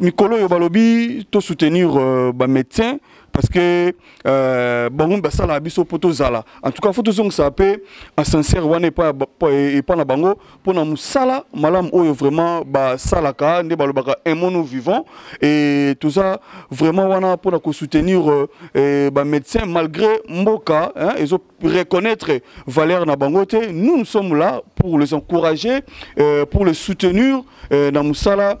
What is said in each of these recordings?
mikolo oyo balobi to soutenir euh, ba médecin parce que euh, bango basalaka biso mpo tozala en tout cas fo tozongisa mpe ascenseur wana epai na bango mpo na mosala malamu oyo vraiment basalaka nde balobaka emono vivant e toza vraiment wana mpo na kosoutenir euh, euh, bamédecin malgré mboka ezo reconnaître valeur na bango te nous nous sommes là pour les encourager euh, pour les soutenir euh, na mosala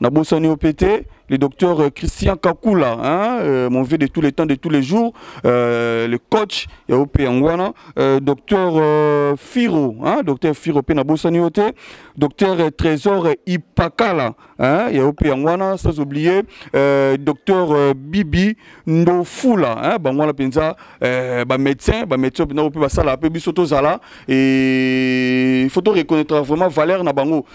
Nabosani yo mpe te le docteur euh, Christian Kakula, hein, euh, mon vieux de tous les temps, de tous les jours, euh, le coach, ya OP Angwana, euh, docteur euh, Firo, hein, docteur Firo Pena Bossaniote, docteur euh, Trésor Ipakala, hein, ya OP Angwana, sans oublier, euh, docteur euh, Bibi Ndofula, hein, Bangwana Penza, euh, ba médecin, ba médecin, Pena OP Basala, Pebi Soto Zala, et il faut reconnaître vraiment valeur na bango.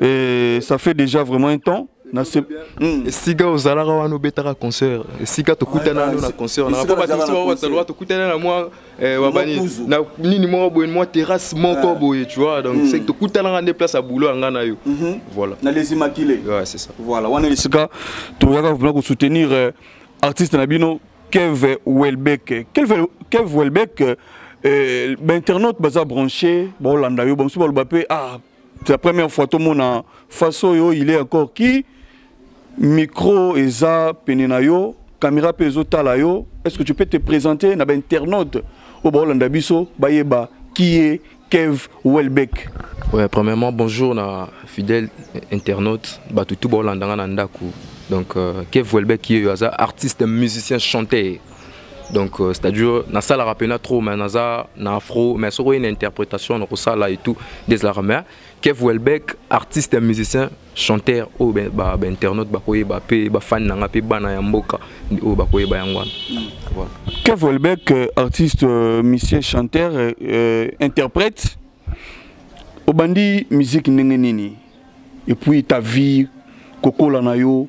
Et ça fait déjà vraiment un temps. Hmm. esika ozalaka wana obetaka concert esika tokutana nano na concert na po bato mosusu bazalaka tokutana na mwa eh, wabani na nini moko boye mwa terrasse moko ah. boye tu vois donc hmm. tokutanaka nde place ya boulot ya ngai na yo mhm. voilà na les immaculés ouais c'est ça voilà wana esika toyaka vraiment ko soutenir euh, artiste na bino Kev Welbeck Kev Kev Welbeck euh, euh, ba internaute baza branché ba Hollanda yo ba mosusu baloba pe ah c'est la première fois tomona face oyo il est encore qui micro eza pene na yo caméra mpe ezotala yo est ce que tu peux te présenter na bainternaute oyo baolanda biso bayeba qui est kev welbeck ouais, premièrement bonjour na fidèle internaute bato tu baolanda nga na ndako donc euh, kev welbeck ye oyo aza artiste musicien chanteur donc euh, c'est-à-dire nasalaka mpena trop mais naza na afro mais soki oye na interprétation nakosala et tout desalaka mais kev welbeck artiste ya musicien chanteur oyo bainternaute bakoyeba mpe bafani na nga mpe bana ya mboka oyo bakoyeba yango wana hmm. kev welbeck euh, artiste euh, musicien chanteur euh, interprète obandi musique ndenge nini et puis ta vie kokola na yo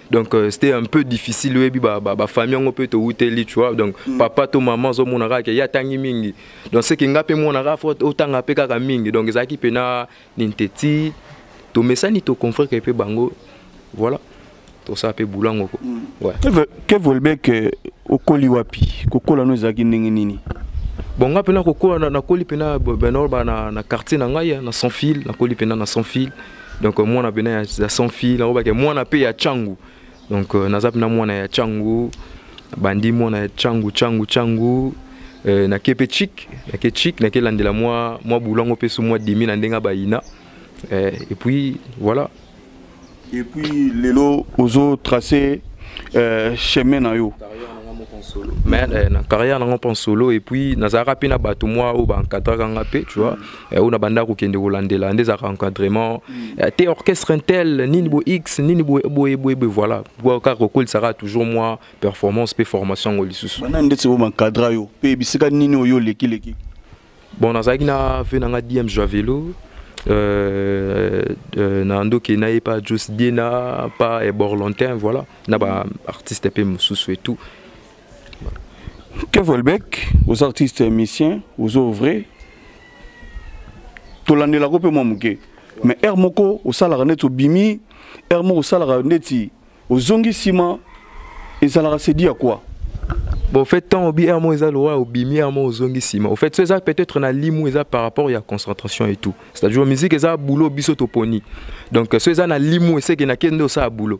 donc euh, c'était un peu difficile oyebi bafamille yango mpe towuteli tu vois donc mm. papa to mama ozomona kaka ke ye atangi mingi donc seke nga mpe mwana kaka fo otanga mpe kaka mingi donc ezalaki mpe na nini te ti tomesani toconfreke mpe bango voilà tosala mpe boulot yango ko mm. kev olbek euh, okoli wapi kokola no ezalaki ndenge nini bon nga mpe nakokola nakoli mpe na benolba na quartier na ngai na sans fil nakoli mpe na na sans fil donc euh, mwana pena ya, ya sans fille nalobaki mwana pe ya changu donc euh, naza pena mwana ya changu bandi mwana ya changu changu changu euh, nake pe chik nake chik nake landela mwa mwa bulango pe su mwa demi na ndenge bayina euh, et puis voilà et puis lelo ozo tracer euh, chemin na yo mais euh, na carrière nango mpe en solo et puis nazalaka mpe na bato mwa oyo baencadraka nga mpe tu vois Eh, oyo na banda kokende kolandela nde ezalaka encadrement mm. eh, te orchestre intel nini bo x nini boyeboye voilà kaka kokolisaka toujours mwa performance mpe formation yango lisusu bana ndeti bo mancadra yo mpe bisika nini oyo olekileki bon nazalaki na ve na nga dm jua velo Euh, euh, na ndoki na ye pa jos diena pa eborlantin voilà na baartiste mpe mosusu et tout Kev Welbeck, aux artistes musiciens, aux ouvriers, tolandelako mpe mwa moke mais heure moko osalaka neti obimi heure moko osalaka neti ozongi nsima ezalaka sedi ya quoi bon fait temps obi heure moko eza lokola obimi heure moko ozongi nsima au fait so eza peut-être na limu eza par rapport ya concentration et tout c'est-à-dire musique eza boulot biso toponi donc so eza na limu eseke na kende osala boulot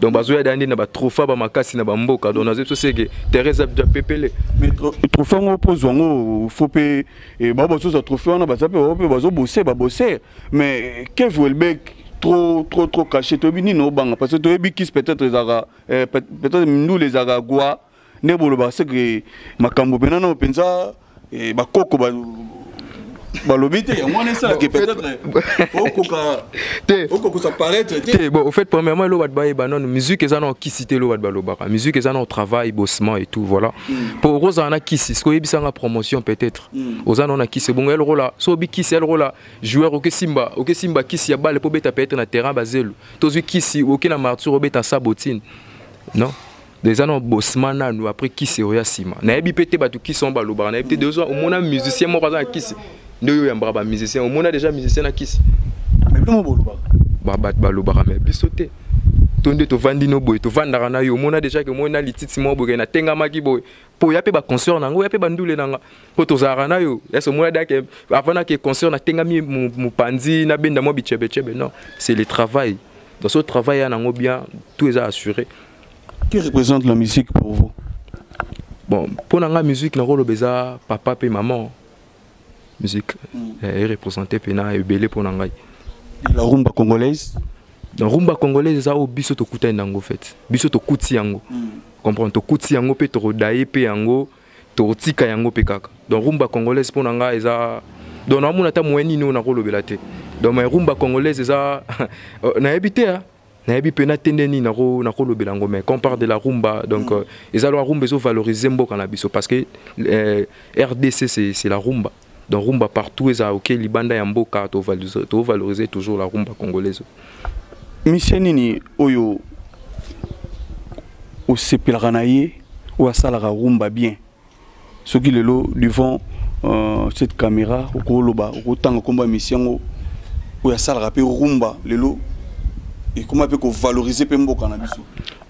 donc bazoya da nde na batrofa bamakasi na bamboka donc nazoyebi so seke terrain eza bda pepele trofa yango mpo ozwa yango fo mpe eh, bao bazozwa trofe wana baza mpe bao mpe bazobose babose mais eh, kev welbek trop trop trop caché toyebi nini obanga parce que toyebi kis peut-être ezalaka eh, peut-être mindule ezalaka gwa nde boloba ce que makambo mpena nao mpenza eh, bakoko balobi te yango wana esalaki peut-être okoka te okokosa paraître te te bon au fait premièrement elo bato bayeba nano musique eza nao kisi te elo bato balobaka musique eza nao travail bossement et tout voilà mpo hmm. okozala na kisi soki oyebisanga promotion peut-être hmm. oza nao na kisi ebongo ya lokola so obi kisi ya lokola joueur okesimba okesimba kisi ya bale mpo obeta peut-être na terrain bazelu tozwi kisi oke na martyr obeta sabotine non eza na bosma nanu après kisi oya nsima nayebi mpe te bato kisi yango balobaka nayebi te dezo omona musicien moko aza na kisi nde oyo oyambaka bamusicien omona deja musicien na kisi bato balobaka me biso te to nde tovandi no boye tovandaka na yo omona deja ke moi na lititi moko boye natengamaki boye mpo ya mpe baconcert na yango ya mpe bandule na nga mpo tozalaka na yo yasi omona dake avant nake concert natengami mopanzi nabenda mwa bicebecebe non c'est le travail dans ce travail ya nango bien tout eza assuré Que représente la musique pour vous Bon, pour la musique, na rôle beza papa et maman. Musique mm. est représentée pena et belé pour nangai. La rumba congolaise La rumba congolaise ça au biso to kuta nango fait. Biso to kuti yango. Mm. Comprendre to kuti yango pe to rodaye pe yango to tika yango pe kaka. Donc rumba congolaise pour nangai eza donc na mona ta moyen nini na rôle belate. Donc ma rumba congolaise eza na ebite hein. nayebi mpe natende nini nakolobela yango mais quand parle de la rumba donc mm. euh, eza loa rumba ezovalorize mboka na biso parce que euh, rdc c'est la rumba donc rumba partout eza oke libanda ya mboka tovalorize toujours la rumba congolaise misie nini oyo osepelaka na ye oyo asalaka rumba bien soki lelo devant euh, cette caméra okoloba okotanga nkombo ya misi yango oyo asalaka mpe rumba lelo ekoma mpe kovalorize mpe mboka na biso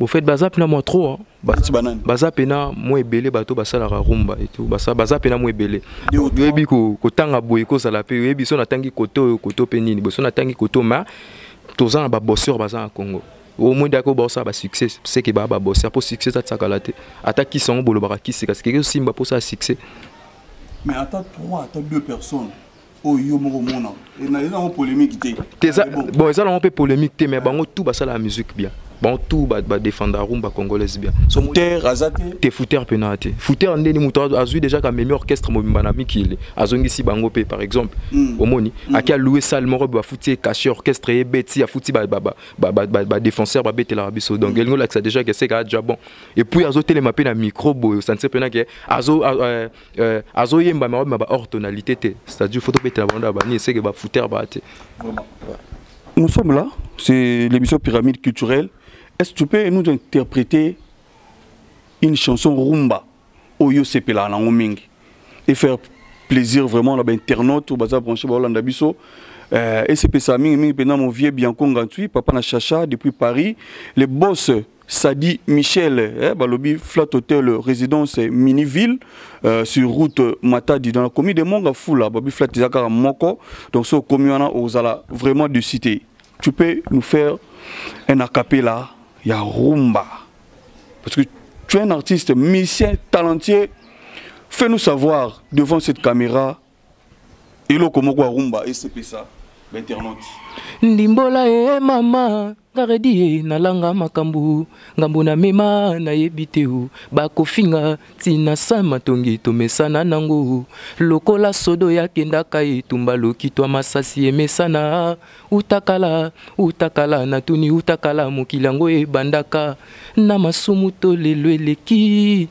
bofete baza mpena mwa trop baza mpena mwa ebele bato basalaka rumba etu baza mpena mwa ebele oyebi kotanga boye kozala mpe oyebi so natangi kote oyo kote mpe nini boso natangi kote ma toza na baboseur baza na congo o moins dako ba osala ba succès c'est que ba ba boss apo succès ça tsaka la te ata ki sango bolo ba ki sika que simba pour ça succès mais ata trois ata deux personnes oyo yo moko omona eza yango polémique te bon eza nango mpe polémique te mais bango tout basala ya musique bien bango tout badefenda rumba congolaise bien fouter aza te te fouter mpena te fouter ndeni moto azwi déjà kamemi orchestre mobimba na mikili azongisi bango mpe par exemple hmm. omoni hmm. ake alouwe salle moko bafuti ye cache orchestre ye beti afuti ba, ba, ba, ba défenseur babetelaka biso donc mm. elingi olakisa déjà ke seka adja bon epuis azotelema mpe na micro boye osanse mpena ke euh, euh, azoyemba mawabi ma ba hors tonalité te c'est-à-dire fo tobetela bango na banini seke bafouter baa te nous sommes là c'est l'émission pyramide culturelle est-ce que tu peux nous interpréter une chanson rumba oyo yo sepelaka nango mingi et faire plaisir vraiment na bainternaute oyo baza branche baolanda biso euh, esepesa mingi mingi mpenza mon vieux bianco ngantui papa na chacha depuis paris le boss Sadi Michel, eh, Balobi, Flat Hotel, résidence Miniville, euh, sur route Matadi, dans la commune de Mongafoula, Balobi Flat Izakara Moko, donc ce communana Ozala, vraiment de cité. Tu peux nous faire un acapella, ya rumba. parce que tu es un artiste musicien talentueux fais nous savoir devant cette caméra eloko moko ya rumba esepesa bainternaute ndimbola e mama ngaredi ye nalanga makambo ngambo na mema nayebi te o bakofinga ntina sa matongi tomesana nango lokola sodo yakendaka etumba lokitwa masasi emesana Utakala, utakala, natuni utakala, mokili yango ebandaka na masumu to lelo eleki.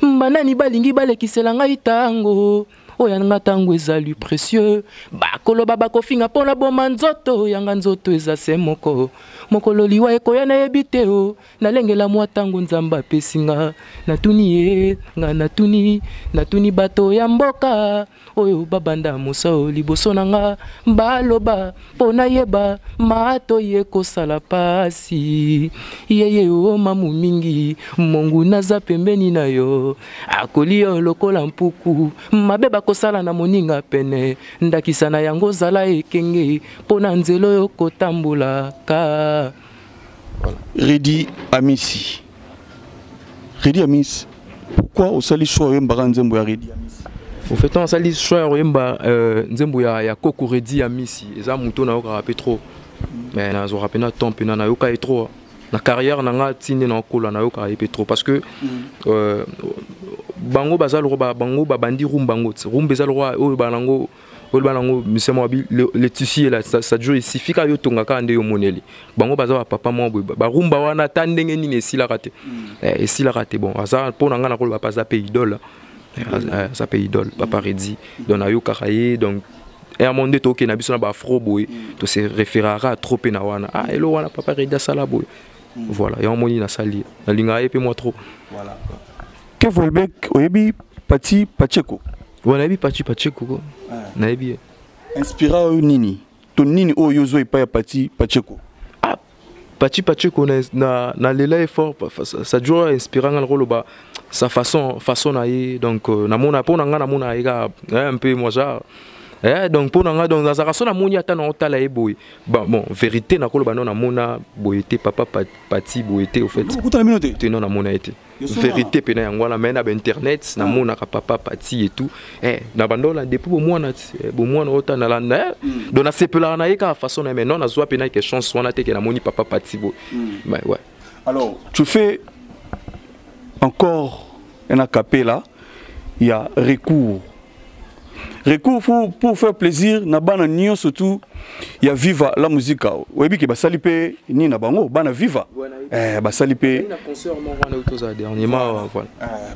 Banani balingi balekisela ngai tango oyo ya nga ntango ezali précieux bakoloba bakofinga mpo naboma nzoto yanga nzoto eza se moko mokolo liwa ekoya nayebi te o nalengela mwa ntango nzambe apesi nga natuni ye nga natuni natuni bato ya mboka oyo babanda mosao liboso na nga baloba mpo nayeba matoyi ekosala pasi yeye o mamu mingi mongu naza pembeni na yo akoli yo lokola mpuku mabe bakosala na moninga pene ndakisa na yango zala ekenge mpo na nzela oyo kotambolaka voilà. redi amisi Redi Amis pourquoi osali choix oyembaka nzembo ya Redi Amis au fait on asali choix ya koyemba euh, nzembo ya, ya koko Redi Amisi eza moto nayokaka mpe trop mais nazwaka mpe na temps mpena nayoka ye trop na carrière na nga ti nde naokola nayokaka ye mpe trop parce que mm. euh, bango baza lokola bango babandi rumba yango rumba eza lokola oyo banango oloba nango mise mwa le tissu ela sadio esifika yo tonga kaka nde yo moneli bango baza bapapa mwa boye barumba wana ata ndenge nini esilaka te mm. eh, esilaka te bon aza mpo na ngai nakoloba mpe aza mpe idole eh, eh, aza mpe idole papa redi donc nayokaka ye donc yango nde tokee na biso na baafro boye mm. tose référaka trop mpe na wana ah elo wana papa redi asala boye mm. voilà yango moni nasali nalingaka ye mpe mwa trop que volbek oyebi pati pacheko Wana yebi Pachi Pachi koko. Ah. Na yebi ye. Inspira yo nini? To nini oyo ozo epa ya Pachi Pachi koko? Ah, Pachi Pachi koko na na, na lela ye fort ça, ça dure inspira nga ko loba sa façon façon na ye donc euh, na mona pona nga na mona ye ka hein, un peu moi genre eh, donc mpo na ngai donc nazalaka so namoni ata na otala ye boye bon vérité nakoloba no namona boye te papa pati boye te au fait te no namona ye te verité pena yango wana mai na bainternet ah. namonaka papa pati et tout eh, na bandola depuis bomwana eh, bomwana oyo ta nalanda eh. mm. donc nasepelaka na ye kaka façon na ye mai non nazwa pena ke chance wana te ke namoni papa pati boye mm. mais ouais alors tu fais encore un acapella ya recours recours pour, pour faire plaisir na bana nio surtout ya viva la musica oyebi ke basali mpe nini na bango bana viva eh, basali mpe eh,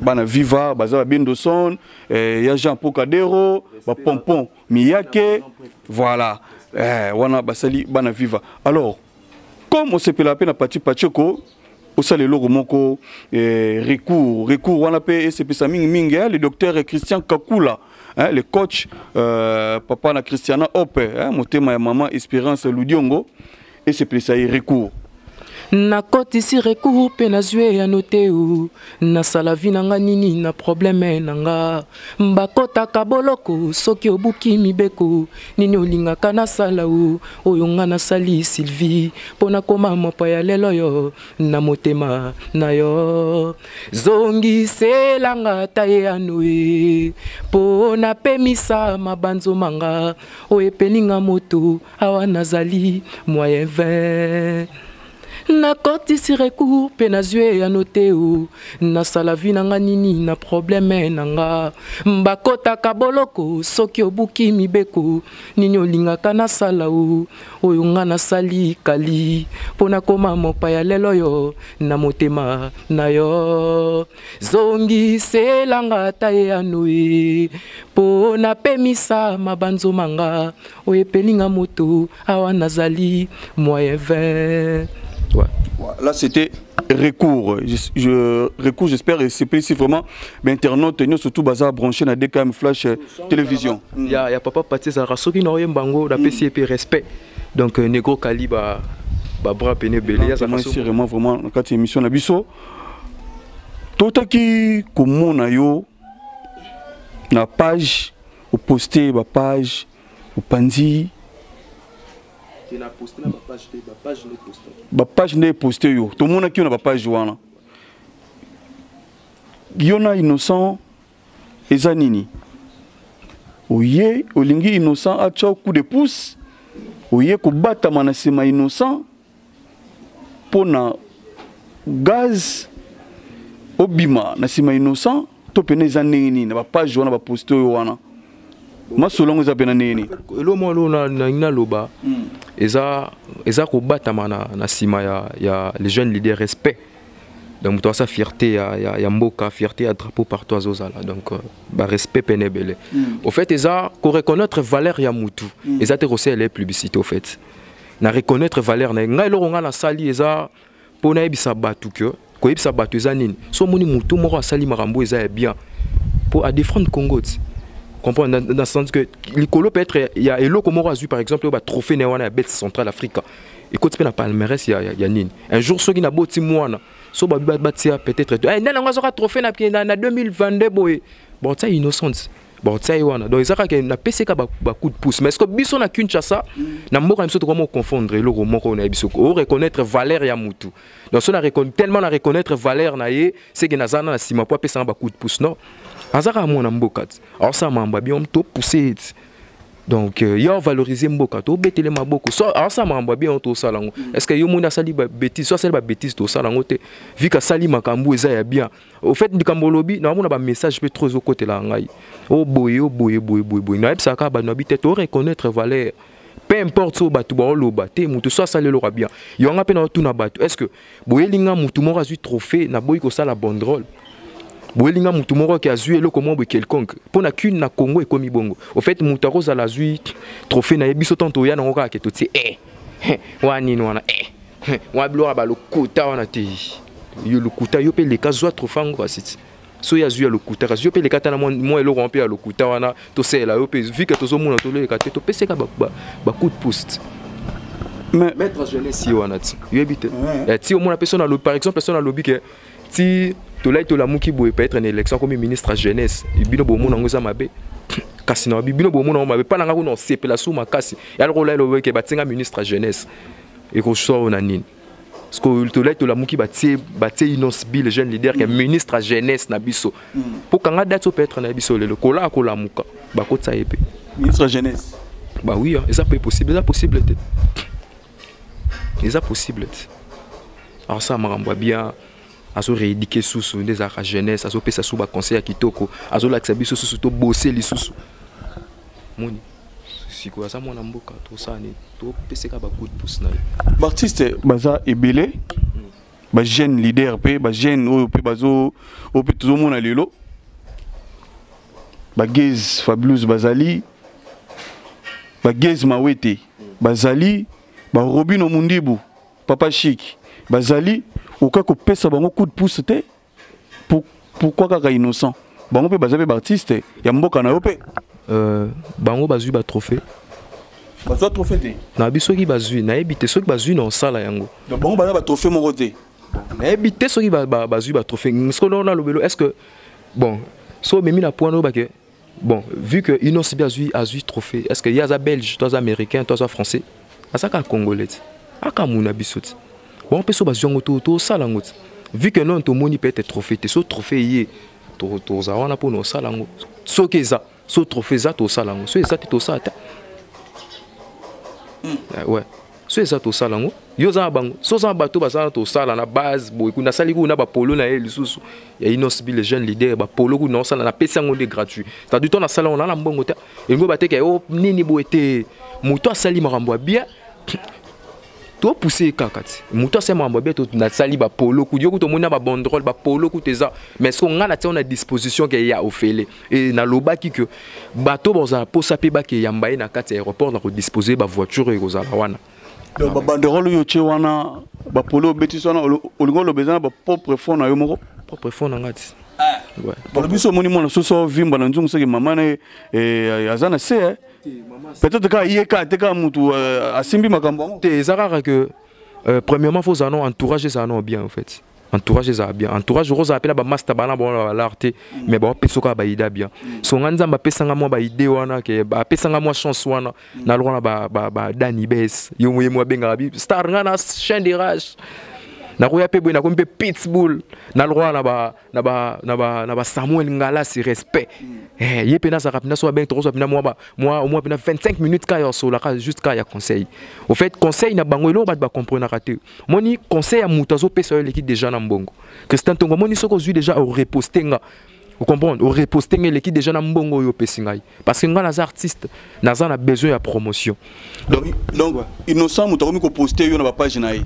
bana viva baza babendoson eh, ya jean pocadero bapompon miyake voilà eh, wana basali bana viva alors comme osepelaka mpe na paci paceko osala eloko moko eh, recours recours wana mpe esepesa mingi mingi eh, le docteur christian kakula eh, le coach euh, papa na christiana ope eh, motema ya mama espérance ludiongo esepelisa ye recours nakotisi recours mpe nazwi eyano te nasala vi na nga nini na probleme na nga bakotaka boloko soki obuki mibeko nini olingaka nasala o oyo nga nasali sylvie mpo nakoma mopa ya lelo yo na motema na yo zongiselanga ta ye anoe mpo napemisa mabanzo manga oyo epeninga moto awa nazali moyen 20 nakotisi recours mpe nazwi eyano te o nasala vi na nga nini na probleme na nga bakotaka boloko soki obuki mibeko nini olingaka nasala o oyo nga nasali kali mpo nakoma mopaya lelo oyo na motema na yo zongiselanga ata eyano e mpo napemisa mabanzo manga oyepeli nga moto awa nazali moyen 20 ouais. là c'était recours je, je, recours j'espère et c'est si vraiment mais internaute nous surtout bazar branché na DKM flash euh, télévision il y a, y a papa Patsé Zara soki na oyemba ngo na pesi mm. respect donc euh, negro kaliba ba bras pene belé ya ça c'est vraiment vraiment na kati émission na biso totaki komona yo na page Oposte ba page, opanzi bapage nde eposte yo tomonaki yo na bapage wana yo na innocent eza nini oye olingi innocent atya coup de pouce oye kobatama na nsima innocent mpo na gaz obima na nsima innocent to mpena eza ndenge nini na bapage wana baposte oyo wana masolo yango eza mpena ndenge nini elo mwa lo nalingi naloba hmm. eza, eza kobatama na, na nsima ya, ya les jeunes leader respect donc moto asa fierté ya, ya, ya mboka fierté ya drapeau partout azozala donc euh, barespect mpene ebele mm. au fait eza koreconnaitre valeur ya mutu mm. eza te kosalela ye publicité au fait na reconnaître valeur na ye ngai eloko ngai nasali eza mpo nayebisa bato ke koyebisa bato eza nini so omoni motu moko asali makambo eza ya bien mpo adefendre congo ti comprendre dans, dans sens que likolo peut être il y a eloko moko azui par exemple ba trophée na wana ya bête centrale africa ekoti mpe na palmarès ya, ya, ya nini un jour soki naboti mwana so babi batia peut être eh, nani yango azoka trophée na, na, na 2022 boye bon tia innocente bakotia ye wana donc eza kaka napesi kaka bacoup de pouce mais ceque biso na kinshasa na mboka na biso tokomi oconfondre eloko moko na ye biso o reconnaître valeur ya mutu donc so tellement na reconnaître valeur na ye seke naza na na nsima mpo apesanga bacoup de pouce non aza kaka mwana mboka ti aosala mambo ya bien to pousse ye ti donc euh, yo avalorize mboka tobetele maboko so asala makambo ya bien oyo tosala yango mm. est ce que yo moni asali babétise so asali babétise tosala yango te vika asali makambo eza ya bien au fait likambo olobi naomona bamessage mpe trop ezokotela ngai o oh, boye o oh, boye boye boye boye nayebisaka kaka bato na bite to reconnaître valeur peu importe oyo bato baoloba te moto so asali eloko ya bien yo nga mpe naotuna bato est ce que boyeli nga motu moko azwi trophée naboyi kosala bon drôle boyeli nga motu moko ke azwi eloko moko boye quelconque mpo na kine na congo ekomi bongo au fait moto akozala azwi trophée na ye biso ntango toya nango kaka ke totie e eh. wana nini wana eh, eh, wana biloko ya balokuta wana te yo lokuta yo mpe leka zwa trofa yango basiti soki azwi ya lokuta kasi yo mpe leka tana mwa eloko wana mpe ya lokuta wana tosalela yo mpe vike tozomona toleleka te topeseka bacout post maître jeunesse ye wana ti oyebi te ti omona mpe so nalobi par exemple so nalobi ke ti tolai tolamuki boye peut être na élection akomi ministre ya jeunesse bino bomona yango eza mabe kasi na bino bomona yango mabe mpa na ngai kuna osepela su makasi yaloko olai lobeke batinga ministre ya jeunesse ekoswa oyo na nini sikoyo tolai tolamuki batie batie inos bill jeune leader ke mm. ministre ya jeunesse na biso mm. mpo kanga date oyo peut être na ye biso lelo kolaa kolamuka bakotisa ye mpe ministre ya jeunesse ba oui eza mpe possible eza possible te eza possible te akosala makambo ya bien azo rééduquer susu nde ezalaka jeunesse azopesa susu baconseil ya kitoko azolakisa biso susu tobose lisusu moni sikoyo aza mwana mboka tosala nini topeseka bacoup de pouce na ye baartiste baza ebele bajeune leader mpe bajeune oyo mpe bazo oyo mpe tozomona lelo bagase fabulous bazali bagase mawete bazali ba Robino Mundibu papa chic bazali oka kopesa bango coup de pouce te pour pourquoi kaka innocent bango pe baza pe ba artiste ya mboka na yo pe euh, bango bazui ba trophée bazwa trophée te nayebi soki bazwi nayebi te soki bazwi na osala yango bango baza batrophée moko te nayebi te soki bazwi batrophée sikoyo nalobelo est ce que bon so omemi na point oyo bake Bon, vu que Innoss a azui azui trophée, est-ce que yaza belge, toi américain, toi français, azaka congolais. Aka muna bisoti. Bon, peso bazui ngo to to sala ngo. Vu que non to moni peut-être trophée, te so trophée yé. To to za wana po no sala ngo. So ke za, so trophée za to sala ngo. So eza te to sala ta. Hmm. Eh, ouais. so eza tosala yango yo oza na bango so oza na bato baza na tosala na base boye kuna asali kuna bapolo na ye lisusu ya inosbi le jeune leader bapolo kuna osala napesi yango nde gratuit tadi to nasala yango nala mbongo te elingo bateka yo oh, nini boye te moto asali makambo ya bien topuse ye kaka ti moto asali makambo ya bien nasali bapolo kutu yo kutu omoni na babondrole bapolo kutu eza mais soko ngai na tiango na disposition ke ya ofele et nalobaki que bato bazala mposa mpe bakeyamba ye na kati ya aéroport na kodispose bavoiture oyo ekozala wana donc babanderole oyo otye wana bapolo obetisi wana olingi oloba eza na bapropre fond na yo moko propre fond na ngai ti balobi biso omoni mwana soso ovimba na nzungu soki mama na ye eh, aza na se eh. peut-être kaka ye kaka te kaka motu eh, asimbi makambo yango te eza kaka que euh, premièrement fo ozala no entourage ezala no bien en fait entourage ezala bien entourage okozala mpe na bamasta bana baona balar te mais baopesa kaka baide ya bien so ngai nzambe apesanga mwa baide wana ke apesanga mwa chance wana na lokola na badani bes yo moye mo abengaka bi star ngai na chain de rage nakoya mpe boye nakomi mpe pitbull na lokola na basamuel ngalasi respect eh, ye mpe nazalaka mpena so babenge tokozwa mpena mwa mpena 25 minutes kaka ya kosolaka juste kaka ya conseil au fait conseil na bango eloko bato bacomprenaka te moni conseil ya moto azopesa yo eleki deja na mbongo christian ntongo amoni soki ozwi deja oreposte nga Vous comprenez Au reposte ngele ki déjà na mbongo yo pesi ngai parce que ngai naza artiste naza na besoin ya promotion. Donc donc innocent moto akomi ko poster yo na ba page na ye.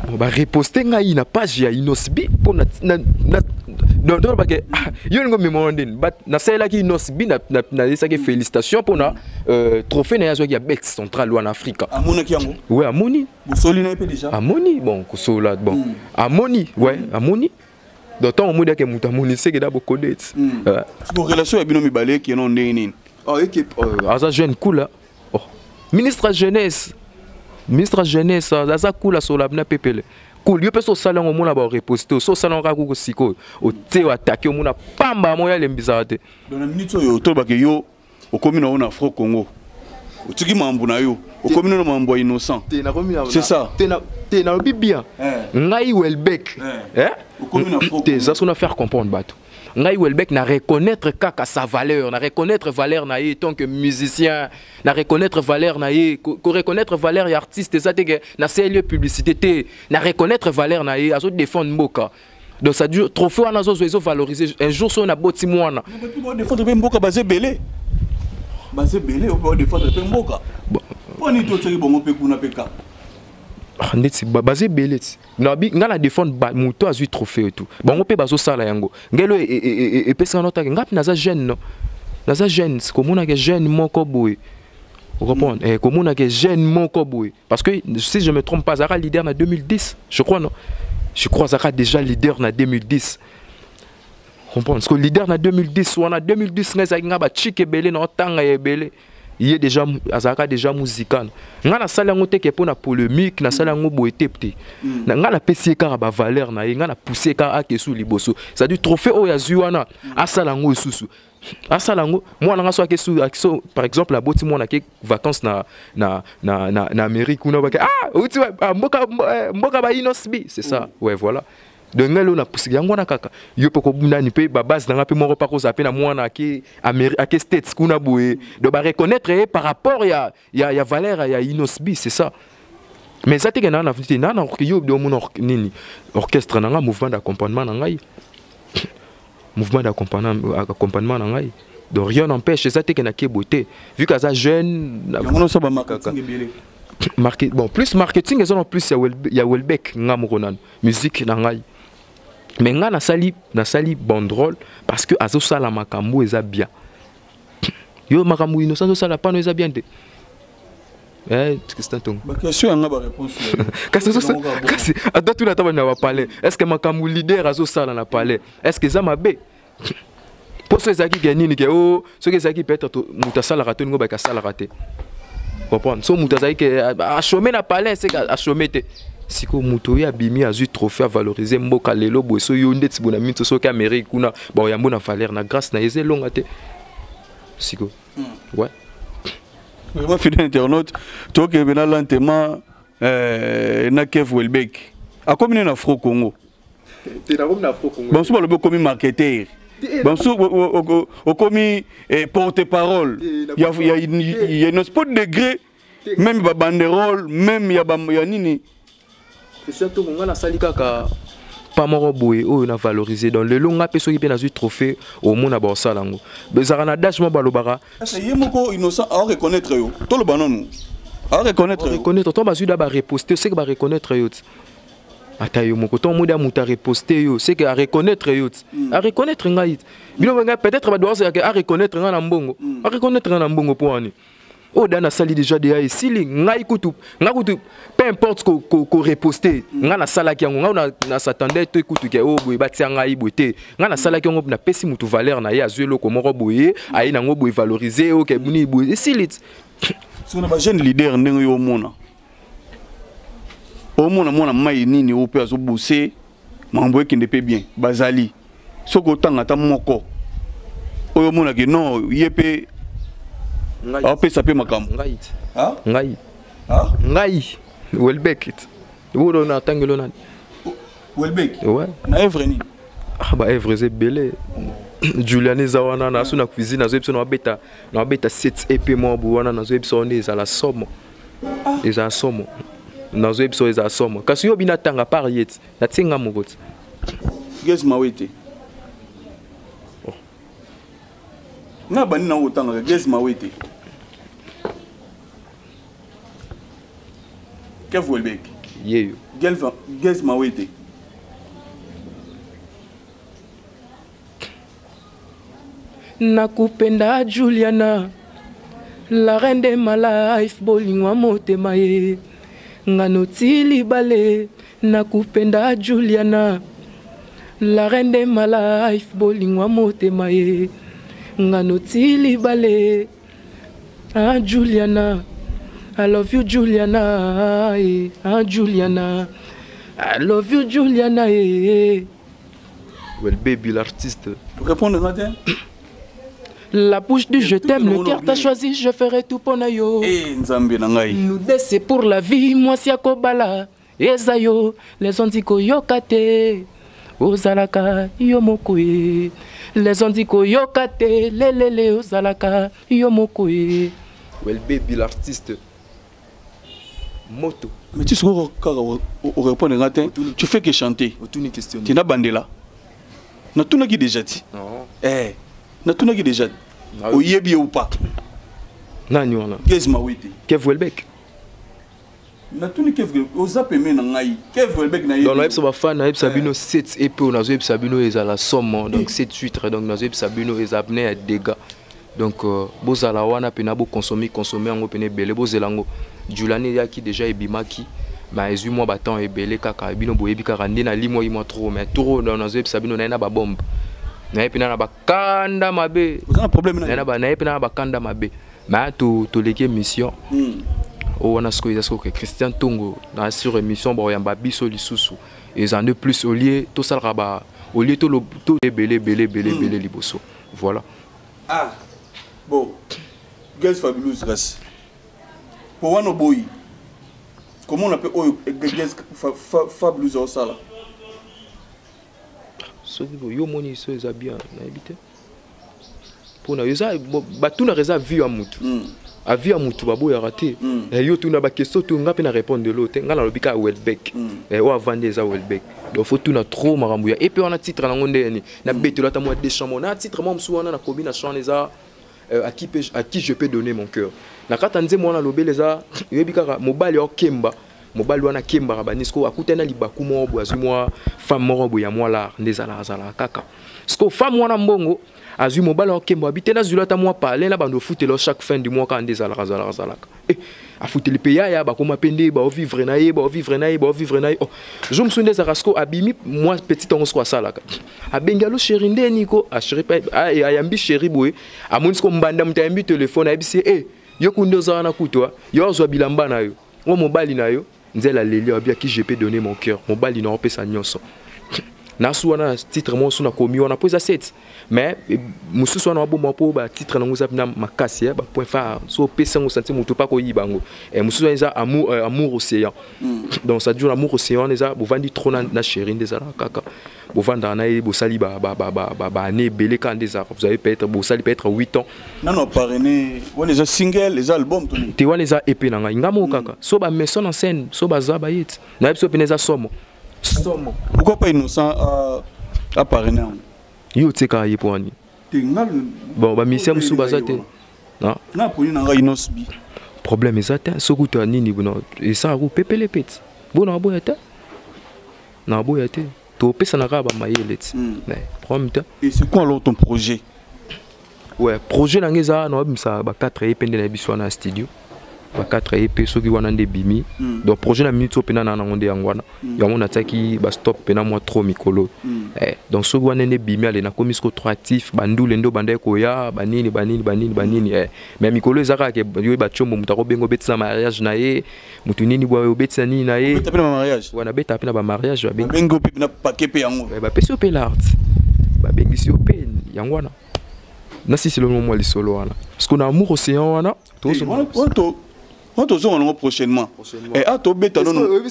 Bon ba reposter ngai na page ya Inosbi po na na donc donc parce que yo ngo me mon den but na sela ki Inosbi na na na esa ke félicitations pona euh, trophée na yazo ya Bex Central ou en Afrique. Amona ki yango. Ouais amoni. bosoli na ye mpe deja amoni bon kosola bon mm. amoni we ouais, mm. amoni donc ntango omoni ake moto amoni seke da bokode ti mm. euh. siko relation ya bino mibale ekeno ndenge nini oh, oh, aza jeune kula oh. ministre ya jeunesse ministre ya jeunesse aza kula sola bina pepele cool yo mpe so osali yango omona bareposte oyo so osali yango kaka kuku sikoyo otie oatake omona pamba moya elembisaka te na minute oyo tolobake yo okomi na yo na fro congo otiki mambo na yo okomi no na mambo ya innocent c'est ça te nalobi bien eh. ngai welbek eh. eh? te eza so na faire comprendre bato ngai welbek na reconnaître kaka sa valeur na reconnaître valeur na ye tant que musicien na reconnaître valeur na ye ko reconnaître valeur ya artiste eza te ke na seli publicité te na reconnaître valeur na ye azo défendre mboka donc ça dure trophée wana azozwa ezo valoriser un jour soki naboti mwana defendre mpe mboka baza ebele baza ebele oyo defendre mpe mboka mpo nini totyaki bongo mpe kuna mpe kaka ah, ndeti baza ebele ti nabi ngai na defendre moto azwi trophée etu bango mpe bazosala yango ngelo e, e, e, epesaka notake ngai mpe naza jeune no naza jeune komonaka jeune moko boye okomprendre eh, komonaka jeune moko boye Parce que si je me trompe pas, Zara leader na 2010, je crois non. Je crois Zara déjà leader na 2010. Comprends? Parce que leader na 2010 ou en 2010 nga zaki nga ba chike belé na tanga ya belé. Il est déjà azaka déjà musical. Nga na sala ngote ke pona polémique, na sala ngo boete pte. Mm. Na nga na pesi ka ba valeur na ye, nga na pousser ka ake sous liboso. Ça du trophée oya zuana, asala ngo susu. asala yango mwana nga soki so par exemple aboti mwana ke vacances na na na na, na Amérique kuna bake ah outi ah, mboka eh, mboka ba inosbi c'est ça mm. ouais voilà donc ngai lelo napusiki yango wana kaka yo mpe kobundani mpe babase na ngai mpe moko mpe akozala mpe na mwana ake, ake states kuna boye donc bareconnaitre ye par rapport ya ya ya valeur ya inosbi c'est ça mais eza teke naa na vnite naa na yo omona nini orchestre na ngai mouvement d'accompagnement na ngai mouvement d'accompagnement na ngai donc rien n'empêche eza teke na kebo te vu que aza jeune Market, bon plus marketing eza na plus ya welbeck nga moko nanu musique na ngai mais nga nasali nasali bandrole parce que azosala makambo eza bien yo makambo innocent ozosala pano eza bien te eh, Tristan Tongo. Ba question yanga ba réponse. kasi so kasi ata tuna ata na ba palais. Est-ce que makambu leader azo sala na palais? Est-ce que za mabe? Poso ezaki ke nini ke oh soki ezaki peut-être mutu asalaka to ningo ba kasalaka te. Comprendre? So mutu azaki ke a chômer na palais c'est a chômer te. sikoyo moto oyo abimi azwi trophée avalorize mboka lelo boye so yo nde tibona minso soki amérique kuna Bon, yambo na valeur na grâce na eze longa te. Siko. Hmm. Ouais. Vraiment fidèle internaute, toi qui bena lentement euh na Kev Welbeck. A combien na Fro Congo? T'es na combien na Fro Congo? Bon, souvent le comme marketeur. bamosusu okomi porte parole ya nos po degré meme ba banderole meme ya, ba, ya nini christian tongo ngai nasali kaka pa moko boye oyo na valoriser donc lelo ngai mpe soki mpe nazwi trophée omona baosala yango ezalaka na dash mo balobaka ye moko innocent aoreconnaitre yo toloba nanu aoreconnaitre reconnaître to bazwi da bareposte seke bareconnaitre yo ti ata yo moko ntongo modi moto areposte yo seke areconnaitre yo ti hmm. areconnaitre ngai ti bino ngai peut-être badoazalaka areconnaitre ngai na mbongo hmm. areconnaitre ngai na mbongo mpo wani oyo dana asali déjà deya esili ngai kutu ngai kutu peu importe koreposte ko, ko ngai nasalaki yango ngai nasatandai to ekutuki oyo oh, boye batia ngai boye te ngai nasalaki yango napesi motu valeur na ye azwi eloko moko boye aye nango boye valorise oke oh, nini boye esili sona bajeune leader ndenge yo omona omona mwana mai nini oyo mpe azobose makambo ekende mpe bien bazali soki otanga ata moko oyo omonake non ye mpe aopesa mpe makambo ngai ngai ngai welbek wolo na atangelo nani welbek ouais. na evre nini ah, ba evre eza ebele julian eza wana naso na cuisine nazoyebisa na babeta na babeta 7 ep mwa bo wana nazoyebisa wana ezala somo ah. ezala somo nazoyebisa oyo ezala somo kasi yo bina tanga par ye ti natie nga moko ti gesi mawe te oh. nga bandi nango otangaka gesi mawe te kev welbek yeyo gesi mawe te nakupenda juliana la reine de ma life bolingwa motema ye ngano ti libale nakupenda juliana la reine de ma life bolingwa motema ye ngano ti libale ah juliana I love you Juliana, eh, ah Juliana, I love you Juliana, eh. Well baby l'artiste. Répondre moi bien. La bouche du je t'aime, le cœur t'a choisi, je ferai tout pour yo. Eh, Nzambe na ngai. Nous deux c'est pour la vie, moi si akobala. Eza yo, les onzi koyoka te. Ozalaka yo moko ye. Les onzi koyoka te, lelele ozalaka yo moko ye. Well baby l'artiste. moto mais ti sikoyo kaka orépondre nga te tu fais que chanter otuni question ti nabandela natunaki déjà ti eh natunaki déjà oyebi ye ou pas nani wana gez mawete kev welbek natuni kevre oza peme na ngai kevre elbek na donc nayebisa bafan nayebisa eh. bino 7 ep oyo nazoyebisa bino ezala somo donc 7 eh. titre donc nazoyebisa bino eza pne ya dega donc euh, bozala wana pena boconsomi consommer yango pena ebele bozela yango julani eyaki deja ebimaki ma ezwi mwa batemp ebele kaka bino boyebi kaka nde nalimwaki mwa trop mais trop donc nazoyebisa bino naye na babombe naye mpena na bakanda mabe naye mpena na bakanda mabe ma toleki émission hmm. oyo wana sikoyo eza sikoke christian ntongo na sur émission bakoyamba biso lisusu eza nde plus olie tosalaka ba olie tolobele ebele ebele ebele hmm. liboso voilà ah bon guys fabulous kasi po wana oboyi komona mpe oyo guys fabulous aosala soki boye yo omoni so eza bien nayebi te mpona eza batunaka eza vie ya motu hmm. avi ya motu baboyaka te hmm. eh, yo tuna bakestio to nga mpe na répondre lelo te nga nalobi kaka welbeck hmm. eh, oyo avandi eza welbeck donc fo tuna trop makambo ya epe wana titre nango nde yani na mm. betelo ata mwa deschamps mo na titre mwa mosusu wana nakomi na chant eza euh, à qui, à qui je peux donner mon cœur na kati ya nzembo wana lobele eza oyebi kaka mobali okemba mobali wana akembaka banisko akutani na libaku moko boye azwi mwa femme moko boye ya mwa lar nde ezalaka azalaka kaka siko femme wana mbongo azwi mobali okemba abi te nazwila ata mwa pale na bando ofutela chaque fin du mois kaka nde ezalaka azalaka azalaka Eh, afuteli mpe yaya bakoma mpe nde baovivre na ye baovivre na ye baovivre na ye oh, zo mosusu nde ezalaka siko abimi mwa petit yango siko asalaka abengi alo sheri nde niko ah, ah, eh, ayambi sheri boye amoni siko mbanda moto ayambi telefone ayebisi ye eh, yo kundi ozala na kutwa yo azwa bilamba na yo o mobali na yo nzela leli abi aki je peux donner mon cœur mobali na opesa nyonso nasu wana titre mosusu nakomi wana mpo eza set mais eh, mosusu wana waboma mpo batitre nango eza mpena makasi eh, bapoint phare so opesi yango santi moto mpe akoyiba yango eh, mosusu wana eza amour, euh, amour océan mm. donc ça dure amour océan wana eza bovandi trop na, na chéri nde ezalaka kaka bovandaka na ye bosali baane ebele kaka nde ezalaka vous avez peut-être bosali peut-être 8 ans nano aparene wana eza single eza album toni te wana eza epe na ngai ngai moko kaka so bameson en scène so baza bayeti nayebi biso mpena eza somo somo pourquoi pas innocent euh, aparene yango yo otikaka ye mpo wani bon bamisien mosusu baza te naponi na ngai inosbi problème eza te soki uta nini esaka ko pepele peti bona aboya te Na boya te. To pesa na ka ba mayele ti. Hmm. Mais problème te. Et c'est quoi alors ton projet? Ouais, projet na ngeza na bimisa ba 4 EP nde na biso na studio. Ba 4 EP soki wana nde bimi. Hmm. Donc projet na minute opena na nango nde yango wana. Hmm. Yango na tsaki ba stop pena moi trop mikolo. Eh, donc soki wana nde bimi ale na komi sko trop actif, bandule ndo banda ko ya, banini banini banini banini. Eh, mais mikolo ezaka ke yo ba chombo mutako bengo betisa mariage na ye. mutu nini bwa obetisa nini na ye obeta pe na mariage wana beta pe na ba mariage ba bengi ngo pe na paquet pe yango ba pesi pe l'art ba bengi si pe yango wana na sisi le moment lisolo wana parce qu'on a amour océan wana to so to on tozonga nango prochainement eh, a tobeta nonotoza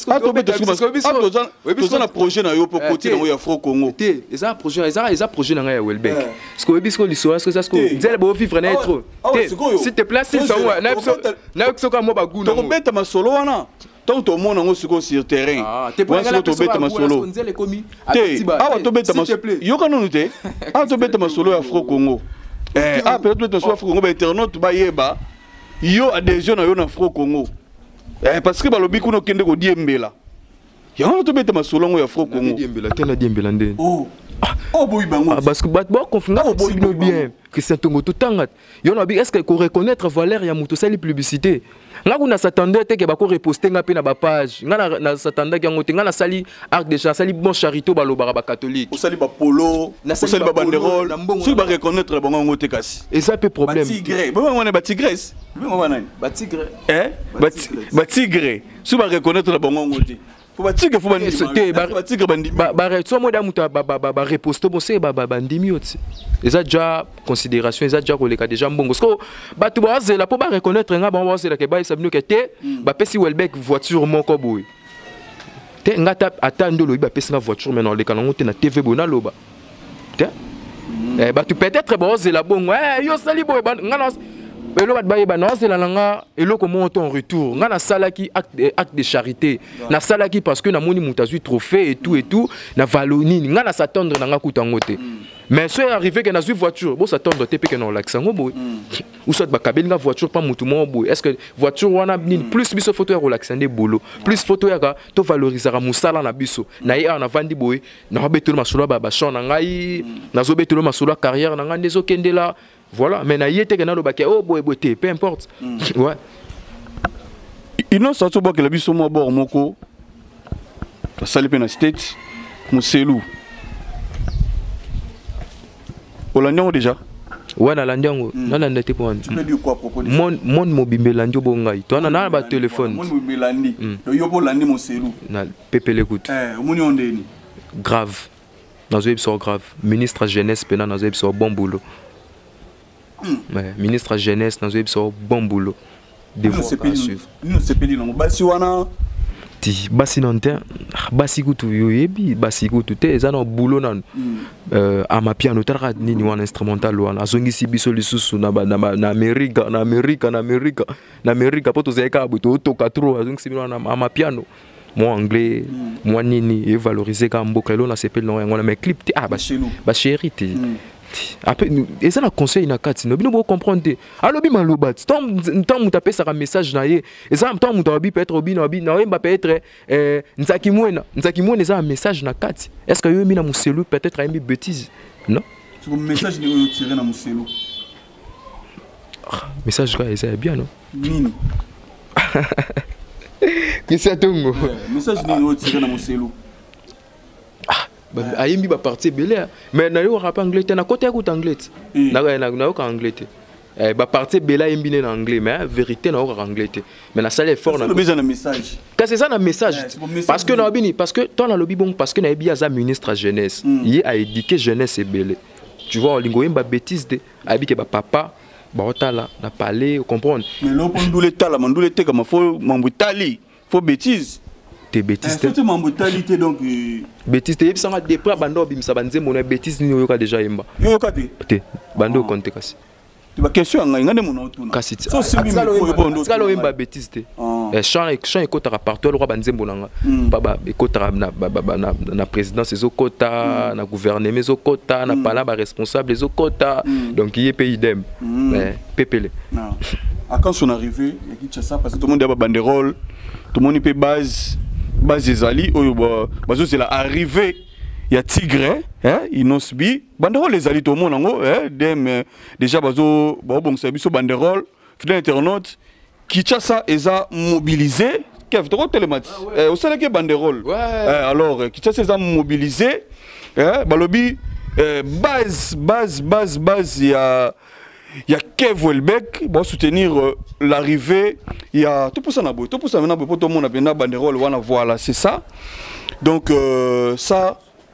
na projet na yo mpo eh, koti nango ya fro congo te eza projet eza projet na ngai ya welbek eh. sikoyo oyebi siko lisolo siko eza siko nzele boovivre na ye trop te s'il te place na biso nayoki soki amwa baguna tokobeta masolo wana ntango tomona yango sikoyo sur terrain ah, wana sikoyo tobeta masolo te awa tobeta yoka nanu te awa tobeta masolo ya fro congo eh, awa mpenza tobeta masolo ya fro congo bainternaute bayeba yo adhesion na yo na fro congo eh, parce que balobi kuna okende kodiembela yango wana tobeta masolo yango ya fro congo oh. ah. oh, ah, parce que bato bakonfina boboyi bino bien christian tongo totanga yo na est-ce que ko reconnaître valeur ya mutu sali publicité nga kuna s'attendait te que ba ko reposter nga pe na ba page nga na, na s'attendait yango te nga na sali arc de chance sali bon charité ba lobaka ba catholique osali ba polo osali ba banderole soki ba reconnaître ba ngo te kasi eza pe problème ba tigre ba ngo na ba tigresse ba ngo nani ba tigre eh ba tigre soki ba reconnaître ba ngo te po ba tigre fo ba ndimi te ba ba tigre ba ndimi ba ba so mo da mutu ba ba ba reposte bo se ba ba ba ndimi oti eza déjà considération eza déjà koleka déjà mbongo sko batu ba zela po ba reconnaître nga ba zela ke ba sabino ke te hmm. ba pesi Welbeck voiture moko boye te nga ata ndo lobi ba pesi nga voiture mais na leka nango te na TV boye na loba te mm. eh, bato peut-être baozela bongo eh, yo osali boye nga na eloko bato bayeba naozela na nga eloko moko to en retour nga nasalaki acte, eh, acte de charité nasalaki parce que namoni moto azwi trophée et tout et tout na valo nini nga na s'attendre na nga kuta yango te mm. mais soki arrivé ke nazwi voiture bosatendre te mpe ke naolakisa yango boye hmm. ou soit bakabeli nga voiture mpa motu moko boye est ce que voiture wana nini hmm. plus biso foto ya kolakisa nde bolo plus foto yaka tovalorisaka mosala na biso hmm. na ye awa navandi boye na betelo masolo ba ba chant na ngai mm. nazo betelo masolo carrière na ngai ndezo kendela voilà mais na yete ke na loba ke oh boye boye te peu importe mm. ouais inosa tobwakela biso mwa bor moko asali mpe na state moselu olandi yango déjà ouais nalandi yango mm. nalanda te mpo monde mobimba elandi obo ngai to ana na batelefone monde mobimba elandi yo mpo olandi moselu pepele kutu eh, omoni yo ndeni grave nazoyebisa yo grave ministre jeunesse mpena nazoyebisa yo bon boulot hmm. eh, ministre jeunesse nazoyebisa yo bon boulot devoirsepeli nango basi wana ti basi nanu te ah, basi kutu oyebi basi kutu te eza na boulot nanu hmm. euh, amapiano otalaka nini wana instrumental wana azongisi biso lisusu na amerika na amerika na amerika na amerika mpo tozali kaka boye tootoka tro azongisi bino wana amapiano mwa anglais mwa nini evalorize kaka mboka elo nasepeli nango yango wana mais clip te ah bachéri te hmm. après eza na conseil na kati no bino bocomprendre te alobi maloba ti ntango moto apesaka message na ye eza ntango moto alobi peut-être obino abi na oyemba peut-être eh, nzaki mwena nzaki mwena eza na message na kati est ce que yo oyembi na moselu peut-être ayembi bétise non message oyo otire na moselu Ah, message kaka eza ya bien no nini kisi ya tongo message nini oyo tire na moselu ayembi baparti ebele mais nayokaka mpe anglais te nakota yakuta anglais te eh. nayoka anglais te eh, baparti ebele ayembi nde na anglais mais eh, vérité nayokaka anglais te mais nasali effort kasi eza na message parce que nayebi nini parce que ntango nalobi bongo parce que nayebi ye aza ministre ya jeunesse hmm. ye aédike jeunesse ebele tu vois olingo yemba bêtise te abike ba papa baotala na palais comprendre mais loko ndule tala mandule teka mafo mambo tali fo bêtise te bêtise te eh, mambo tali te donc euh, bêtise te yebisanga depuis abanda obimisa banzembo na bêtise nini oyoka déjà yemba yoyoka te te banda okonte ah. kasi ba question ya ngai ngai nde mona otuna kasi tika loyemba betise te ah. eh, chant ekotaka partout alokwa banzembo na nga hmm. ekotaka na présidence ezokota hmm. na gouvernement ezokota na hmm. pala baresponsable ezokota donc ye mpe idem eh, pepele ah. à quand son arrivée ya kinshasa parce que tomoni ya babanderole tomoni mpe base base ezali oyo bazozela arrivée ya tigre inosbi banderole ezali tomona yango eh, dem eh, déjà bazobongisa biso banderole fidèle internaute kinshasa eza mobilise kev tokotelema ti ah, eh, osalaki banderole eh, alors eh, kinshasa eza mobilise eh, balobi eh, base base base base ya ya kev welbeck basoutenir euh, l'arrivée ya topusana boye topusana na boye mpo tomona mpenza banderole wana voilà c'est ça donc euh, ça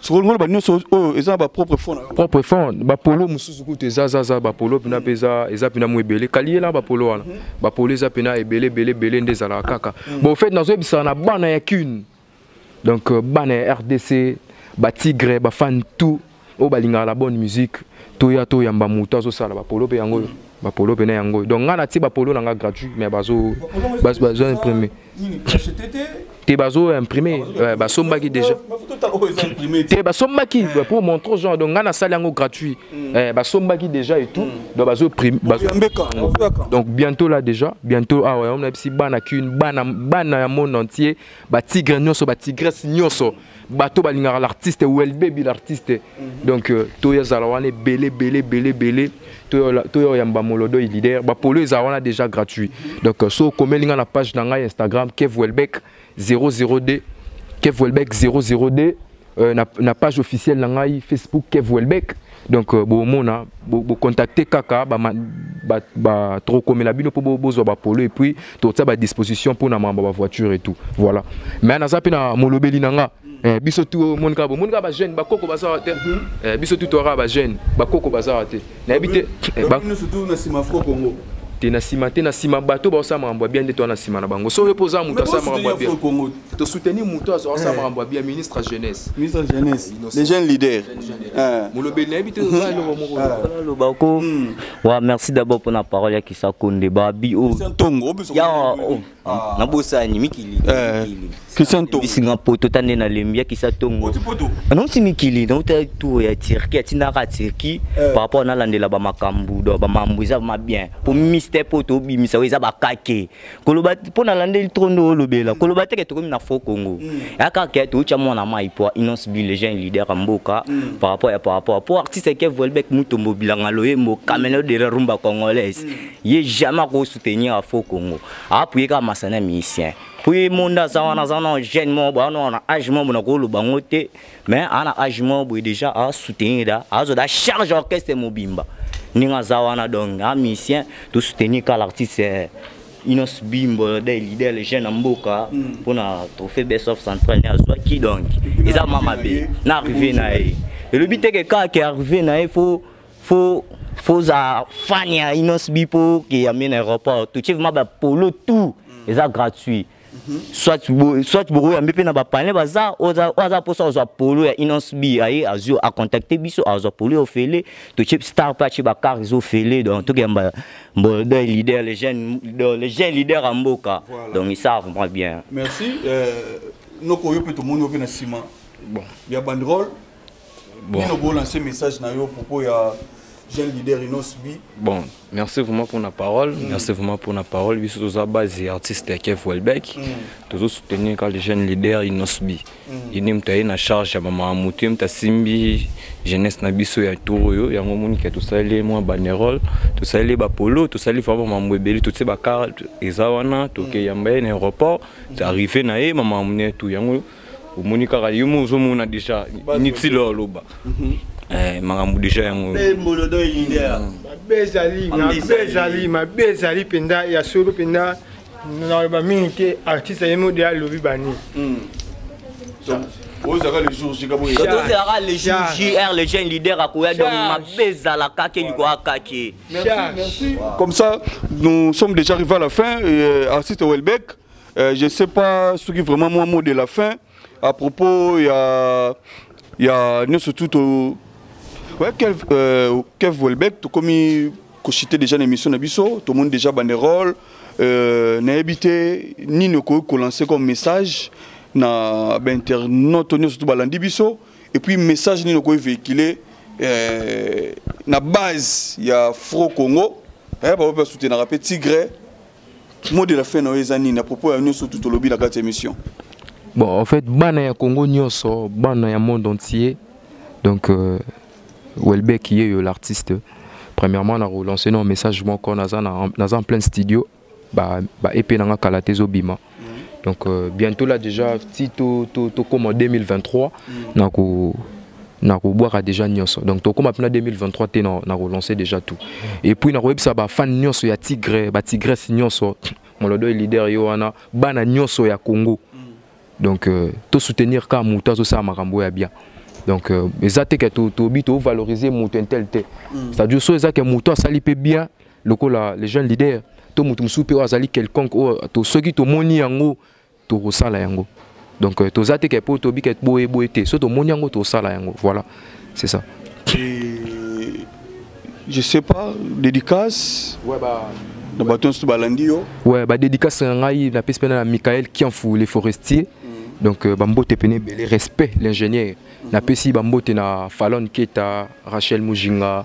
sikoyo ngoloba nyonso oyo eza na bapropre fond na yo propre fond bapolo mosusu kutu eza za za bapolo mpena mpe eza eza mpena mwa ebele kaliyela bapolo wana mhm. bapolo eza mpena ebele ebele ebele nde ezalaka kaka mhm. bon fait nazoyebisaka na bana ya kune donc euh, bana ya rdc batigre bafane tout oyo balingaka la bonne musique toya toyamba moto azosala bapolo mpe yango oyo mhm. bapolo mpe na yango oyo donc ngai natie bapolo na ngai gratuit mais bazo bazo imprime te bazo imprime basombaki déjà te basombaki eh. pour montrer aux gens donc ngai nasali yango gratuit hmm. eh, basombaki déjà et tout hmm. donc bazo prime donc bientôt là déjà bientôt awa ah yango nayebisi bana kune bana bana ya monde entier batigre nyonso batigresse nyonso bato balingaka l'artiste welbebi l'artiste mhm. donc euh, toya zala wana ebele ebele ebele ebele toya oyamba molodo e leader bapolo eza wana déjà gratuit mhm. donc euh, so okomeli ngai na page na ngai instagram kev welbeck 002 kev welbeck 002 euh, na, na page officielle na ngai facebook kev welbeck donc euh, bomona bocontacte bo kaka tokokomela bino mpo bozwa bapolo et puis totia badisposition mpo na mambo ya bavoiture et tout voilà mais naza mpe na molobeli na nga eh, biso tu omoni kaka bomoni kaka bajeune bakoko baza wa te mhm. eh, biso tu toyaka bajeune bakoko baza wa te nayebi te eh, te na nsima te na nsima bato baosala makambo ya bien nde toa na nsima na bango soki mpo oza moto asala makambo ya bien To soutenir mutu azo asala eh. makambo ya ministre ya jeunesse. Ministre ya jeunesse. Eh, Les jeunes leaders. Eh. Molobeli na yebi te oza eloko moko. Loba ko. Hmm. Wa merci d'abord pour la parole ya Kisako Ndeba bi o. Christian Tongo obiso. Ya oh. ah. na bosani mikili. Christian Tongo. Bisinga poto tande na lembi ya Kisako Tongo. Oti poto. Ah, non si mikili na uta tour ya Turquie atina ka Turquie par rapport na landela ba makambu do ba mambu eza ma bien. Pour Mister Poto bimisa eza ba kake. koloba mpo na landeli trop nde olobela koloba teke tokomi na faux congo mm. ya kaka ya toutya mwana mai mpo inonce bi le jeune leader ya mboka mm. par rapport ya par rapport mpo artiste ke volbek mutombo bilanga loyembo camelo mm. de la rumba congolaise ye jamais akosoutenir ya faux congo apuye kaka masana musicien mpo ye monde aza wana aza na jeune moko bawana wana age moko na koloba yango te mm. mais ana age moko boye déjà asoutenir da azo da charge orchestre mobimba ndenge aza wana donc a musicien tosoutenir ka l'artiste eh, inos bimbo de leader le jeune ya mboka mpo hmm. na trophée best of central ne azwaki donc eza ma mabe na arrive na ye elobi teke kaka ke arrive na ye fo fo foza fan ya inos bi mpo ke ya mena aéroport totie vraimen bapolo tout hmm. eza gratuit soit bo, soit bokoyambe mpe na bapane baza oyo aza mposa azwa polo ya inons b aye azwi acontacte biso azwa polo ya ofele totie star mpe atie bakar eza ofele donc tokeyamba mbolda leader le jeune le jeune leader ya mboka donc esa vraiment bien merci euh, noko yo mpe tomoni yo mpe na nsima bon. ya banderole bon. bino bolanse message na yo propos ya jeune leader inos bi bon merci vraiment pour la parole mm. merci vraiment pour la parole biso toza base ya artiste ya kev welbeck mm. tozo soutenir kaka le jeune leader inos bi mm. ye nde moto aye na charge ya mama moto ye moto asimbi jeunesse na biso ya tour oyo yango omoni ke tosaleli ye mwa banerole tosaleli ye bapolo tosaleli vraiment mambo ebele totie bakarte eza wana tokeyamba ye na aéroport arrive na ye mama mone tu yango omoni kaka yo mo ozomona deja niti lo aloba mhm. eh, makambo deja yango ezali mabe ezali mpenza ya solo mpenza naloba mingi te artiste ye mo de alobi bani hmm. ozalaka le jour j kabo tozalaka le jour jr le jeune leader akoya donc mabe ezalaka ke liko akake comme ça nous sommes déjà arrivé à la fin euh, artiste welbeck Euh, je sais pas soki vraiment mwa mot de la fin à propos ya ya nyonso tu to ouais, kev, euh, kev welbeck tokomi koshite déjà na émission na biso tomoni déjà banderole euh, nayebi te nini okoki kolancer comme message na bainternaute oyo nyonso tu balandi biso et puis message nini okoki véhicule euh, na base ya fro congo eh, baoyo mpe basutenaka mpe tigre mot de la fin na yo eza nini à propos ya nyonso tu tolobi na kati ya émission bon en fait bana ya congo nyonso bana ya monde entier donc euh, welbeck ye yo l'artiste premièrement na relancer na message moko naza na naza en plein studio ba ba ep na nga kala te ezobima donc euh, bientôt là déjà ti tokoma 2023 na ko nakobwaka déjà nyonso donc tokoma mpena 2023 te nakolancer déjà tout et puis nakoyebisa bafane nyonso ya tigre batigresse nyonso molodo leader yo wana bana nyonso ya congo donc euh, tosoutenir kaka moto azosala makambo ya bien donc euh, eza te ke tobi tovaloriser moto intel te mm. c'est-à-dire so eza ke moto asali mpe bien lokola les jeunes leaders to mutu mosusu mpe oyo azali quelconque oyo to, soki tomoni yango tokosala yango donc euh, toza te ke mpo tobi ke boye boye te so tomoni yango tosala yango voilà c'est ça Et... je sais pas dédicace ouais, bah... na bato nyonso balandi yo ouais, badédicace na ngai napesi mpena na michael kianfu le forestier mm. donc euh, bambote mpena ebele respect l'ingénieur mm -hmm. napesi bambote na falon keta rachel mujinga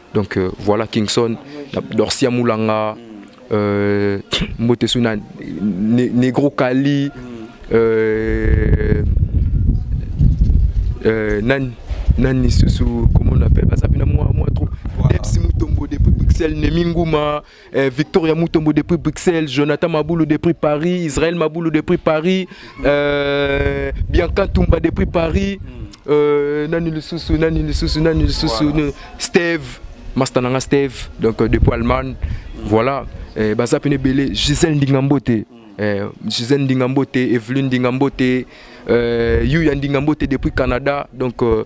donc euh, voilà kingson dorcia mulanga euh, mbote so na ne, negro kali euh, euh, nani nani lisusu comment on appelle baza mpena mwa mwa trop deps mutombo depuis bruxelles nemi nguma Eh, Victoria Mutombo depuis Bruxelles, Jonathan Maboulou depuis Paris, Israël Maboulou depuis Paris, euh, Bianca Tumba depuis Paris, hmm. euh, Nani Lususu, Nani Lususu, Nani Lususu, voilà. Steve, Mastananga Steve, donc euh, depuis Allemagne, hmm. voilà. Eh, baza pene belé Gisèle Ndingambote, hmm. eh, Gisèle Ndingambote, Evelyne Ndingambote, euh, Yuya Ndingambote depuis Canada, donc euh,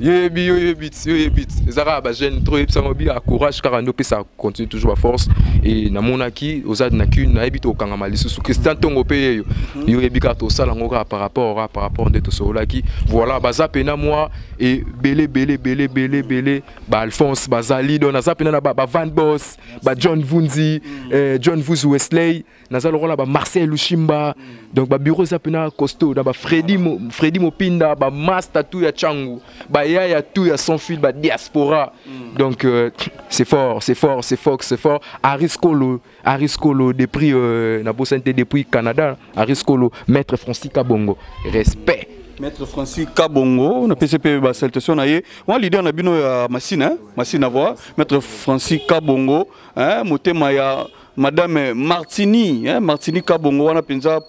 yo yebi yo yebi yo yebi eza kaka bajeune trop yebisa yango bia courage kaka nde opesa continue toujours baforce e namonaki oza na kine nayebi tokangama lisusu christian ntongo mpe yeyo yo yebi kaka tosala yango kaka par rapport kaka par rapport nde tosololaki voilà baza mpena mwa ebele ebele ebele ebele ebele baalphonse bazali don aza mpena na bavan bos bajohn vunzi eh, john vuzi wesley naza lokola ba marcel lushimba donc babiro eza mpena costo na bafredi mopinda bamasta tout ya changu bayaya tout ya sans fil badiaspora mm. donc euh, c'est fort c'est fort c'est fort c'est fort ariscolo ariscolo depuis euh, na bosani te depuis canada ariscolo maître francis kabongo respect maître francis kabongo napesi mpe basaltation na ye wana leader na bino ya masine masine avoir maître francis kabongo motema ya madame martini eh, martini kabongo wana mpenza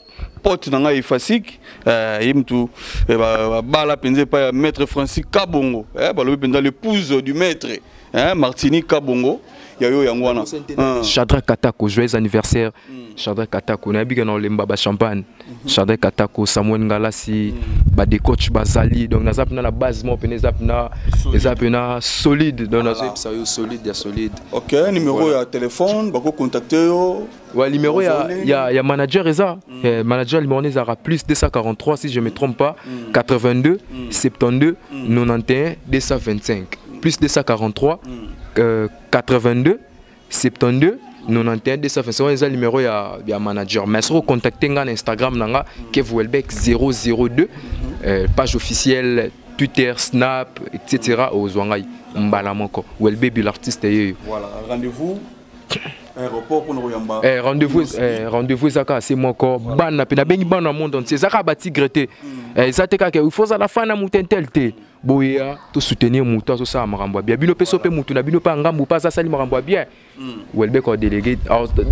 pote na ngai efasik eh, ye mutu eh, babala mpenza epai ya maître francis kabongo eh, balobi mpenza l'épouse du maître eh, martini kabongo ya yo yango wana ah. chadra katako joyeux anniversaire mm. chadra katako nayebika na olemba bachampagne Chardin Katako, Samuel Ngalasi, mm. ba des coachs bazali donc naza pena na base moko pena eza pena eza pena solide donc nazo yebisa yo solide ya solide. OK, numéro voilà. ya téléphone bako contacter yo. Ouais, numéro ya ya ya manager eza mm. eh, manager numéro ezaka plus 243 si je me trompe pas mm. 82 mm. 72 mm. 91 225 plus 243 mm. euh, 82 72 91 225 wana eza numero ya, ya manager mais soki ocontacte ngai na instagram na nga kevuelbek 002 euh, page officielle twitter snap etc ozwa ngai mbala moko welbebi l'artiste yeyo voilà rendez-vous Eh, rendez-vous eh, rendez-vous eza kaka se moko bana mpe nabengi bana na monde entier eza kaka batigre te hmm. eh, eza te kaka il faut ozala fan ya motentel te boya to soutenir mutu azo sala makambo ya bien bino pe so pe mutu na bino pa ngambu pa asali makambo ya bien hmm. welbeck au délégué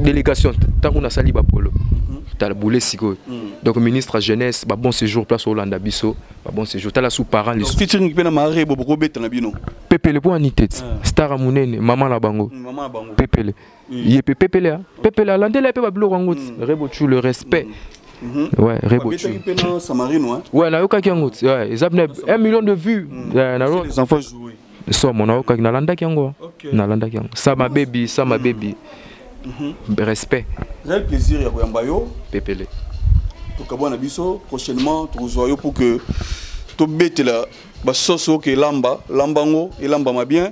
délégation tango na sali ba polo hmm. tala boule sikoyo hmm. donc ministre ya jeunesse ba bon séjour place olanda biso ba bon séjour tala sous parent les featuring pe na mare bo boko beta na bino pepele po anite ah. star munene maman na bango pepele ye mpe pepele pepele alandela ye mpe babiloko yango ti mm. rebo chu le respect mm. Mhm. Ouais, Rebo. Hein. Ouais, na yokaki yango. Ouais, eza bne 1 million de vues. Mhm. Euh, na les enfants jouer. Somo na yokaki na landaki yango. Na landaki yango. Sama baby, sama mhm. baby. Respect. J'ai plaisir ya koyamba yo. Pepele. Tokabwana biso prochainement tokozwa yo pour que tobetela basoso oke elamba lamba yango elambama bien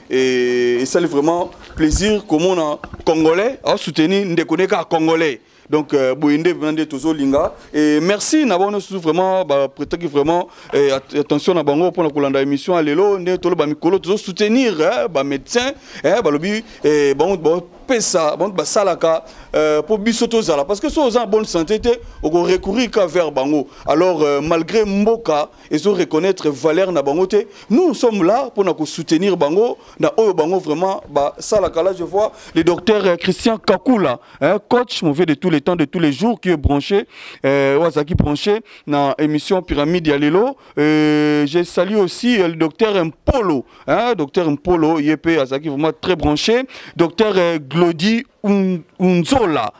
et ça vraiment plaisir comment on congolais a soutenu ndeko neka congolais donc euh, boyende vraiment de tozo linga et merci na bono sous vraiment ba prétaki vraiment eh, attention na bango pona kolanda émission alelo nde tolo ba mikolo tozo soutenir eh, ba médecins eh, balobi eh, bango ba pesa bango basalaka euh, po biso tozala parce que so oza en bonne santé te oko recourir ka vers bango alors euh, malgré mboka ezo reconnaître valeur na bango te nous sommes là pour na ko soutenir bango na oyo bango vraiment ba sala kala je vois le docteur euh, Christian Kakula hein, coach mauvais de tous les temps de tous les jours qui est branché euh, wazaki branché na émission pyramide ya lelo euh, je salue aussi euh, le docteur Mpolo hein, docteur Mpolo yepe azaki vraiment très branché docteur euh, Glody Unzola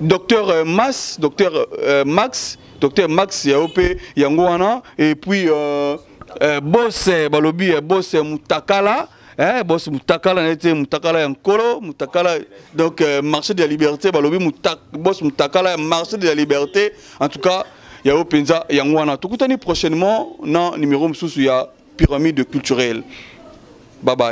docteur euh, Mas, docteur euh, Max, docteur Max ya ope yango wana et puis euh, euh, boss euh, balobi euh, boss euh, Mutakala eh, boss Mutakala nete Mutakala ya nkolo Mutakala donc euh, marché de la liberté balobi mutak, boss Mutakala marché de la liberté en tout cas ya ope nza yango wana tokutani prochainement na numéro mosusu ya pyramide culturelle bye bye